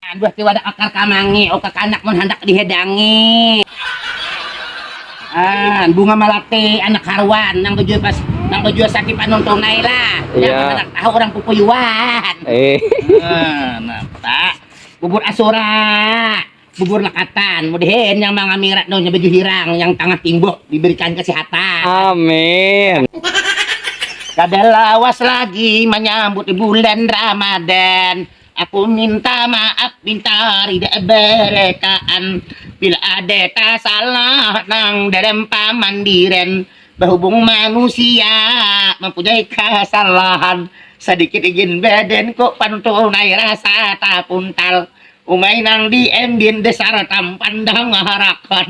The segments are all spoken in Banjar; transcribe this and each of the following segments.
Aduh ti wadah akar kamangi oh kakanak mun handak dihidangi. Ah, bunga malape anak haruan nang bajua pas nang bajua sakit panun tunai lah. Iya. Nang handak tahu orang pupuyuan. Eh. Ah, napa? Bubur asura, bubur lekatan, mudahin yang mangamirat no nya baju hirang yang tangah timbuk diberikan kesehatan. Amin. Kada lawas lagi manyambut bulan Ramadan. Aku minta maaf minta rida berekaan bila ada tasalah nang dalam pamandiran bahubung manusia mampunyai kasalahan sadikit igin badanku pantunai rasa tapuntal umai nang di embin dasar tampan dangarakan.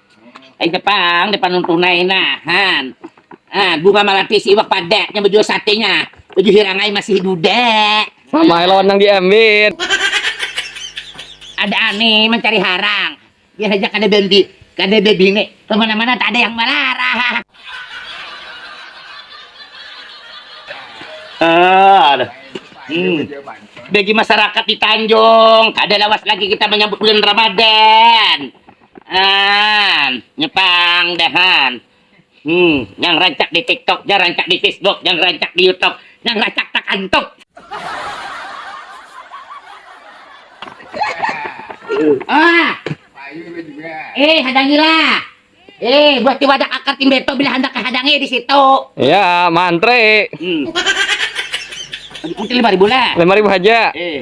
Aida pang depan nang tunai nah han ah bunga malapis iwak pada nya baju sate nya baju hirangai masih duda mamae lawan nang diambit ada ane mancari harang biar haja kada bambi kada babine kemana mana taada yang malarang bagi masyarakat di tanjung kada lawas lagi kita manyambut bulan ramadan. An, nya pang dah an. Hmm, nyang rancak di tiktok, nyang rancak di facebook, nyang rancak di youtube, nyang racak takantup. Ah, eh hadangilah. Eh, buat ti wadak akar tim beto bila handak kahadangi di situ. Ya, mantri. Hmm. Mungkin lima ribu lah. Lima ribu haja. Eh.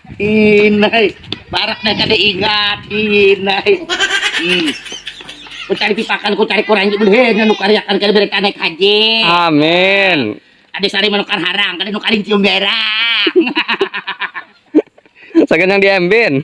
Inai, barak dah kada ingat. Inai. Hmm. Ku cari pipakan, ku cari kurangi beleh anu kariakan kada berita naik haji. Amin. Ada sari manukar harang, kada nukar cium berang. Sagan yang diembin.